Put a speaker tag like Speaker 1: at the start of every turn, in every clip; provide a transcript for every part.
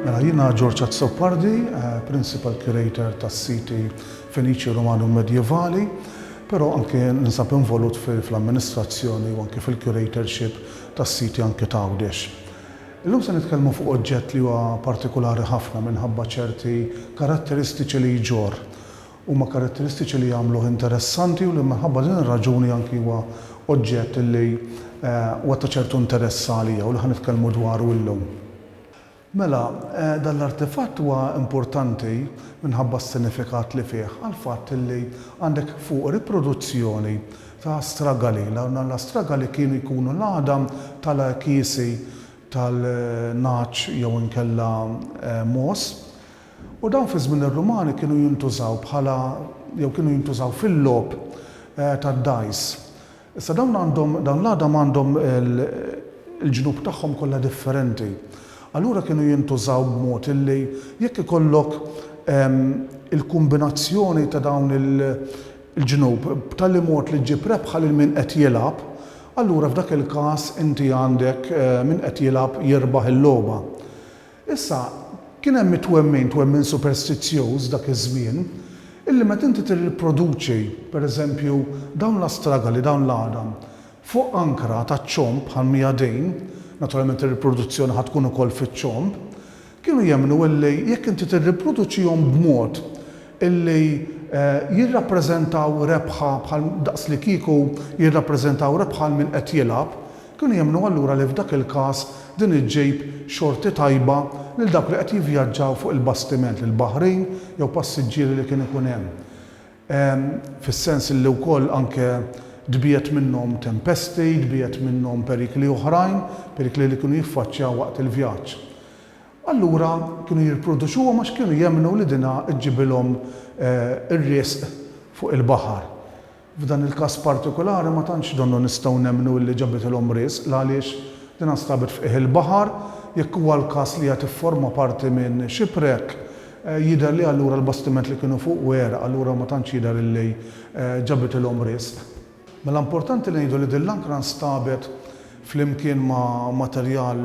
Speaker 1: Mela jiena George Azzopardi, eh, Principal Curator tas-siti Feniċi Romani u Medjevali, però anke ninsab involut fl-amministrazzjoni u anke fil-curatorship tas-siti anke ta' Għawdex. Illum se nitkellmu fuq oġġett li huwa partikulari ħafna minħabba ċerti karatteristiċi li jġorr. Huma karatteristiċi li jagħmluh interessanti u li minħabba din ir-raġuni anki huwa oġġett li huwa ta' ċertu interess għalija u li ħa nitkellmu dwaru illum. Mela, dan l-artefatt huwa importanti minħabba s-sinifikat li fih għall-fatt li għandek fuq riproduzzjoni ta' Astragali. L-Astragali kienu jkunu l-għadam tal-għekiesi tal-nagħaġ jew inkella mogħoż, u dawn fi żmien ir-Rumani kienu jintużaw bħala jew kienu jintużaw fil-logħob tad-dajs. Issa dawn għandhom, dawn l-għadam għandhom il-ġnub tagħhom kollha differenti. Allura kienu jintużaw b'mod illi jekk ikollok il-kumbinazzjoni ta' dawn il, l-ġnub b'tali mod li ġġib rebħa lil min qed jilgħab, allura f'dak il-każ inti għandek min qed jilgħab jirbaħ il-logħba. Issa, kien hemm it-twemmin, twemmin superstizzjuż dak iż-żmien, illi meta inti tirriproduċi, pereżempju, dawn l-astragali, dawn l-għadam, fuq ankra taċ-ċomb bħal mija dejn, naturalment ir-riproduzzjoni ħa tkun ukoll fiċ-ċomb, Kienu jemmnu illi jekk inti tirriproduċihom b'mod illi jirrappreżentaw rebħa bħal daqslikieku jirrappreżentaw rebħa għal min qed jilgħab, kienu jemmnu allura li f'dak il-każ din iġġib xorti tajba lil dawk li qed jivvjaġġaw fuq il-bastiment, lil baħrin jew passiġġieri li kien ikun hemm. fis-sens li wkoll anke tbiegħed minnhom tempesti, tbiegħed minnhom perikli oħrajn, perikli li kienu jiffaċċjaw waqt il-vjaġġ. Allura kienu jirproduċuhom għax kienu jemmnu li dinha ġġibilhom ir-riżq fuq il-baħar. F'dan il-każ partikulari ma tantx donnu nistgħu nemmnu illi ġabitilhom riżq l-għaliex dinha nstabet f'qiegħ il-baħar, jekk huwa l-każ li hija tifforma parti minn shipwreck, Jidher li allura l-bastiment li kienu fuqu għeraq, allura ma tantx jidher illi ġabitilhom riżq. Mela importanti li ngħidu li din l-ankra nstabet flimkien ma' materjal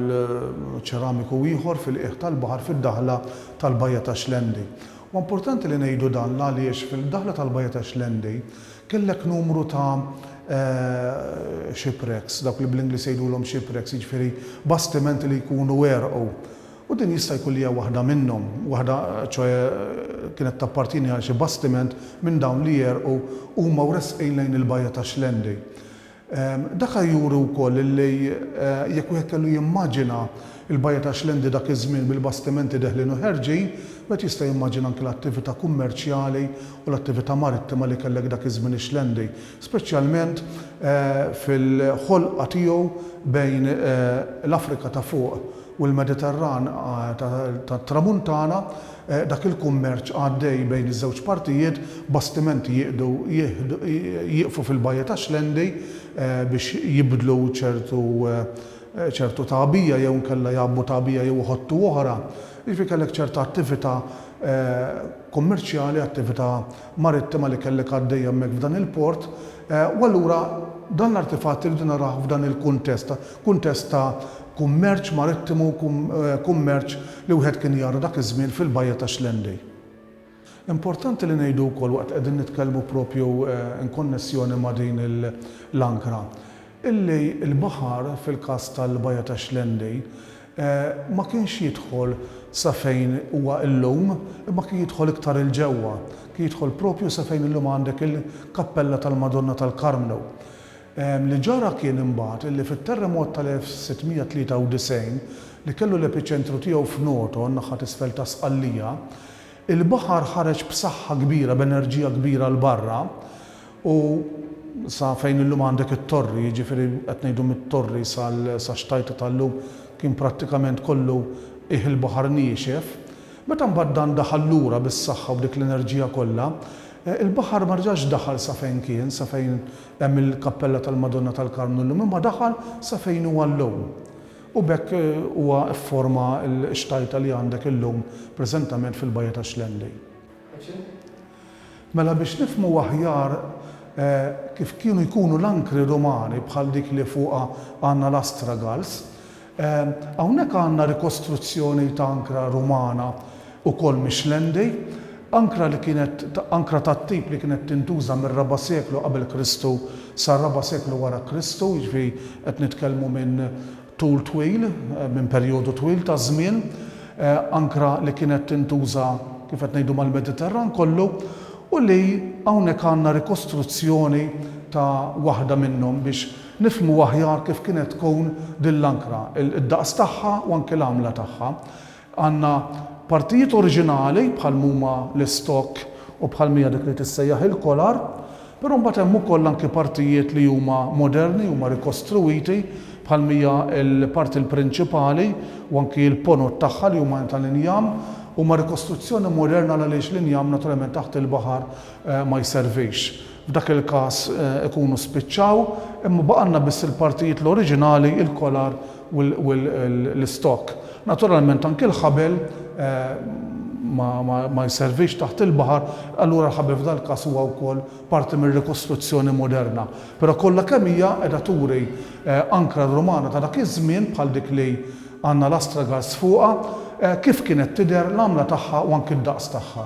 Speaker 1: ċeramiku ieħor fil-qiegħ tal-baħar fid-daħla tal-Bajja ta' Xlendi. Huwa importanti li ngħidu dan l-għaliex fil-daħla tal-Bajja ta' Xlendi kellek numru ta' shipwrecks, dawk li bl-Ingliż jgħidulhom shipwrecks, jiġifieri bastimenti li jkunu għerqu. U din jista' jkun li hija waħda minnhom, waħda, ċoe, kienet tappartjeni għal xi bastiment minn dawn li għerqu huma wresqin lejn il-bajja ta' Xlendi. Daka juri wkoll li, jekk wieħed kellu jimmaġina l-bajja ta' Xlendi dak iż-żmien bil-bastimenti deħlin u ħerġin, wieħed jista' jimmaġina anki l-attività kummerċjali u l-attività marittima li kellek dak iż-żmien ix-Xlendi. speċjalment fil-ħolqa tiegħu bejn l-Afrika ta' Fuq u l-Mediterran tat-Tramuntana, dak il-kummerċ għaddej bejn iż-żewġ partijiet, bastimenti jiqdu jieqfu fil-Bajja ta' Xlendi biex jibdlu ċertu ċertu tagħbija jew inkella jgħabbu tagħbija jew iħottu oħra. Jiġifieri kellek ċerta attività kummerċjali, attività marittima li kellek għaddejja hemmhekk f'dan il-port, u allura dan l-artifatt irridu narawh f'dan il-kuntest, kuntest ta' kummerċ marittimu, kummerċ li wieħed kien jara dak iż-żmien fil-bajja ta' Schlendei. Importanti li ngħidu wkoll waqt li qegħdin nitkellmu propju inkonnessjoni ma' din l-ankra, illi l-baħar fil-każ tal-bajja ta' Schlendei Ma kienx jidħol sa fejn huwa illum, imma kien jidħol iktar 'il ġewwa. Kien jidħol proprju sa fejn illum għandek il-kappella tal-Madonna tal-Karmnu. Li ġara kien imbagħad illi fit-terremot tal-1693, li kellu l-epiċentru tiegħu f'Noto, n-naħa t'isfel ta' Sqallija, Il-baħar ħareġ b'saħħa kbira, b'enerġija kbira 'l barra u sa fejn illum għandek it-Torri, jiġifieri qed ngħidu mit-Torri sax-Xtajta tal-lum kien prattikament kollu qiegħ il-baħar niexef. Meta mbagħad dan daħal lura bis-saħħa u b'dik l-enerġija kollha, il-baħar ma rġax daħal sa fejn kien, sa fejn hemm il-Kappella tal-Madonna tal-Karmnu llum, imma daħal sa fejn huwa llum. u b'hekk huwa fforma l-xtajta li għandek illum preżentament fil-bajja ta' Xlendej. Mela biex nifhmu aħjar kif kienu jkunu l-ankri Rumani bħal dik li fuqha għandna l-astragals, hawnhekk għandna rikostruzzjoni ta' ankra Rumana ukoll mix-Xlendi, ankra li kienet ankra tat-tip li kienet tintuża mir-raba' seklu qabel Kristu sar-raba' seklu wara Kristu, jiġifieri qed nitkellmu minn tul twil, minn perjodu twil ta' żmien, ankra li kienet tintuża kif qed ngħidu mal-Mediterran kollu, u li hawnhekk għandna rikostruzzjoni ta' waħda minnhom biex nifhmu aħjar kif kienet tkun din l-ankra, id-daqs tagħha u anke l-għamla tagħha. Għandna partijiet oriġinali bħal m'huma l-istokk u bħal m'hija dik li tissejjaħ il-kolar, però mbagħad hemm ukoll anki partijiet li huma moderni, huma rikostruwiti, bħal m'hija l-parti l-prinċipali u anki l-ponot tagħha li huma tal-injam, huma rikostruzzjoni moderna għaliex l-injam naturalment taħt il-baħar ma jservix. F'dak il-każ ikunu spiċċaw, imma baqgħalna biss il-partijiet l-oriġinali, il-kolar u l-istokk. Naturalment anki l-ħabel ma jservix taħt il-baħar, allura l-ħabel f'dal-każ huwa wkoll parti mir-rikostruzzjoni moderna. Però kollha kemm hija qiegħda turi ankra Rumana ta' dak iż-żmien bħal dik li għandna l-astragals fuqha, kif kienet tidher, l-għamla tagħha u anki d-daqs tagħha.